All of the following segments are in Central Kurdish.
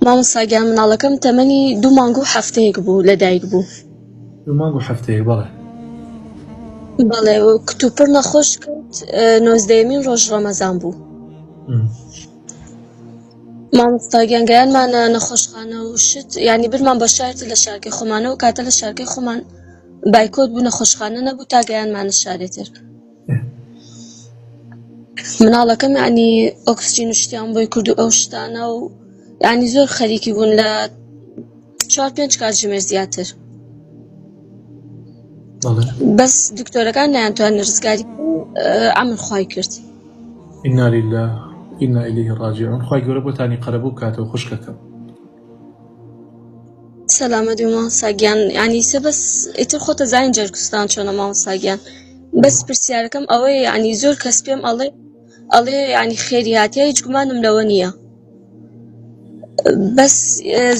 مامۆستا گیان مناڵەکەم تەمەنی دوو مانگ و هەفتەیەک بوو لە دایک بوو دوو مانگ و هەفتەیەک بەڵێ بەڵێ کتوپڕ نەخۆش کرد نۆزدەمین ڕۆژ ڕەمەزان بوو مامۆستاگیان گەیانمانە نەخۆشخانە و شت ینی برمان بە شارت لە شارکی خۆمانەوە کاتە لە شارکی خۆمان بایکۆت بوو نەخۆشخانە نەبوو تا گەیانمانە شارێتر مناڵەکەم یانی ئۆکسجین و شتیان بۆی کردو ئەو شتانە و یانی زۆر خەریکی بوون لە چوار پێنج کاتژمێر زیاتر بەس دکتۆرەکان نەیانتوان ڕزگاری ئەمن خی کرد ئینالیلا ئینا ئیلیه ڕاجعون خی گەورە بۆتانی قەرەبوو کاتەوە خوشکەکەم سەلامە دوو ماساگیان ینی سە بەس ئیتر خۆتە زانین جەرگستان چۆنە مامەساگیان بەس پرسیارەکەم ئەوەی ینی زۆر کەس پێم ئەڵێ ئەڵێ ینی خێریاتە هیچ گومانم لەوە نییە بەس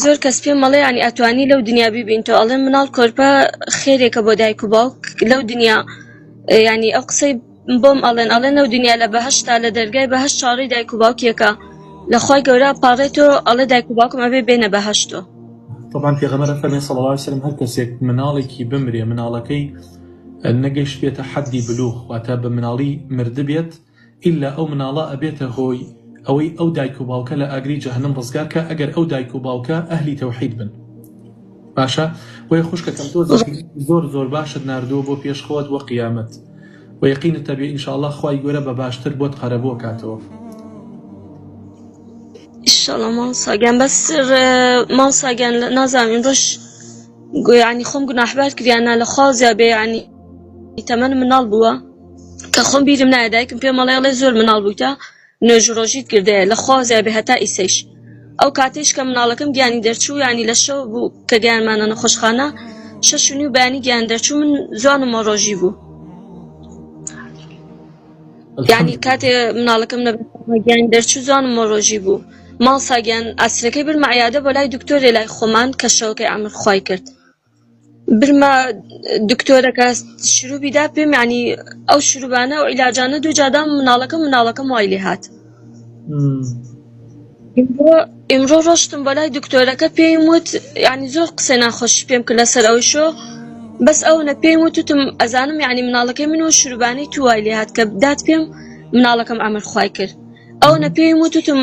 زۆر کەس پێم مەڵێ ینی ئەتوانی لەو دنیا ببین تۆ ئەڵێ مناڵ کۆرپە خێرێکە بۆ دایک و باوک لەو دنیا ینی ئەو قسەی بۆم ئەڵێن ئەڵێن لەو دنیا لە بەهشتا لە دەرگای بەهش چاڕی دایک و باوکیەکە لەخوای گەورە پاڕێتۆ ئەڵێ دایک و باوکم ئەبێ بێنە بەهشتۆ طبعا پێغەمبەر فەرمی صلی الله علیه وسلم هەر کەسێک مناڵێکی بمرێ مناڵەکەی نەگەشت بێتە حەدی بلوغ واتە بە مناڵی مرد بێت ئللا ئەو مناڵە ئەبێتە هۆی ئەوەی ئەو دایک و باوکە لە ئاگری جەهنم ڕزگار کە ئەگەر ئەو دایک و باوکە ئەهلی تەوحید بن باشە بۆیە خوشکەکەم تۆ زۆر زۆر باشت نردووە بۆ پێش خۆت بۆ قیامەت و یقینت تەبێ ئینشاءله خی گەورە بە باشتر بۆت قەرەبوو کاتەوە ئیشەڵە ماڵساگەن بەس ماڵساگەن نازانین ڕۆژ گویانی خۆم گوناحبار کریانە لە خوازیا بێ ینی تەمەن مناڵ بووە کە خۆم بیرم نایە دایکم پێ مەڵێڵێ زۆر مناڵ بوویتە نوێژو ڕۆژیت گردەیە لە خوا زیابێ هەتا ئیسەیش ئەو کاتەیش کە مناڵەکەم گیانی دەرچوو یانی لە شەو بوو کە گیانمانە نەخۆشخانە شەش و نیو بەیانی گیان دەرچوو من زوان و مۆڕۆژی بوو یانی کاتێ مناڵەکەم نەگیان دەرچوو زوان و مۆڕۆژی بوو ماڵ ساگیان ئاسرەکەی برمە عیادە بۆ لای دکتۆرێ لای خۆمان کە شەوەکەی ئەمر خوای کرد برما دکتۆرە کە شروبی دا پێم یانی ئەو شروبانە و عیلاجانە دوو جادام مناڵەکەم مناڵەکەم وای لێ هات ئمڕۆ ڕۆشتم بەلای دکتۆرەکە پێی وت ینی زۆر قسە ناخۆش پێم کرد لەسەر ئەو شۆ بەس ئەو نە پێی وتتم ئەزانم یعنی مناڵەکەی من و شروبانی توای لێ هات کە بدات پێم مناڵەکەم ئەمر خی کرد ئەو نە پێی وتتم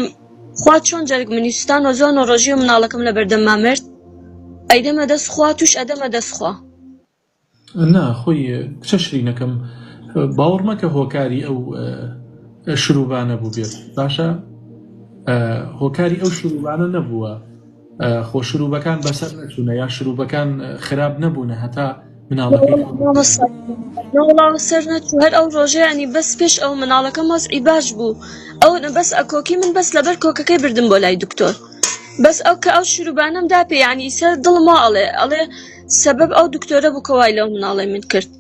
خوا چۆن جەرگ منی سوتان وە جوان و ڕۆژی و مناڵەکەم لە بەردەمما مرد ئەیدەمە دەست خوا توش ئەدەمە دەست خوا. نا خۆی کچە شرینەکەم باوڕ مەکە هۆکاری ئەو شروبانە بوبێت باشە هۆکاری ئەو شروبانە نەبوە. خۆ شروبەکان بەسەر نەچوونە یا شروبەکان خراپ نەبوونە هەتا مناڵەکەڵاو سەر نەچوو هەر ئەو ڕۆژەیانی بەس پێش ئەو مناڵەکەم وەز ئیباش بوو ئەو بەس ئەکۆکی من بەس لەبەر کۆکەکەی بردم بۆ لای دکتۆر بەس ئەو کە ئەو شروبانم دا پێیانی سەر دڵما ئەڵێ ئەڵێ سبب ئەو دکتۆرە بکەوای لەو مناڵی من کرد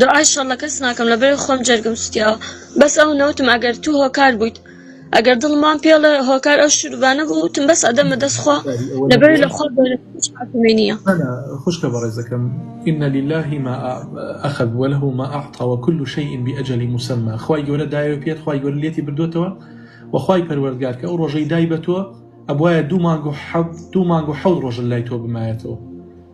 دوعای شەڕ لە کەس ناکەم لە بەرێ خۆم جەرگم سوتیاوە بەس ئەو نەوتم ئەگەر تو هۆکار بویت ئەگەر دڵم وام پێڵێ هۆکار ئەو شروبانە بو وتم بەس ئەدەمە دەس خوا باری ئەوە لە بەرێ لە نەبووە خوا گەورە تر هیچ حاکمێ نیە. هەنا خوشکە بەڕێزەکەم ان للە ما اخذ وله ما اعطی وکل شیء باجل مسمی خوای گەورە دایەوە پێت خوای گەورە لێتی بردۆتەوە وە خوای پەروەردگار کە ئەو ڕۆژەی دای بەتۆ ئەبوایە دوو مانگ و حەو دوو مانگ و حەوت ڕۆژ لای تۆ بمایەتەوە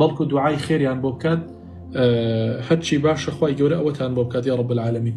بەڵکو دوعای خێریان بۆ بکات هەرچی باشە خوای گەورە ئەوەتان بۆ بکات یا رب العالمین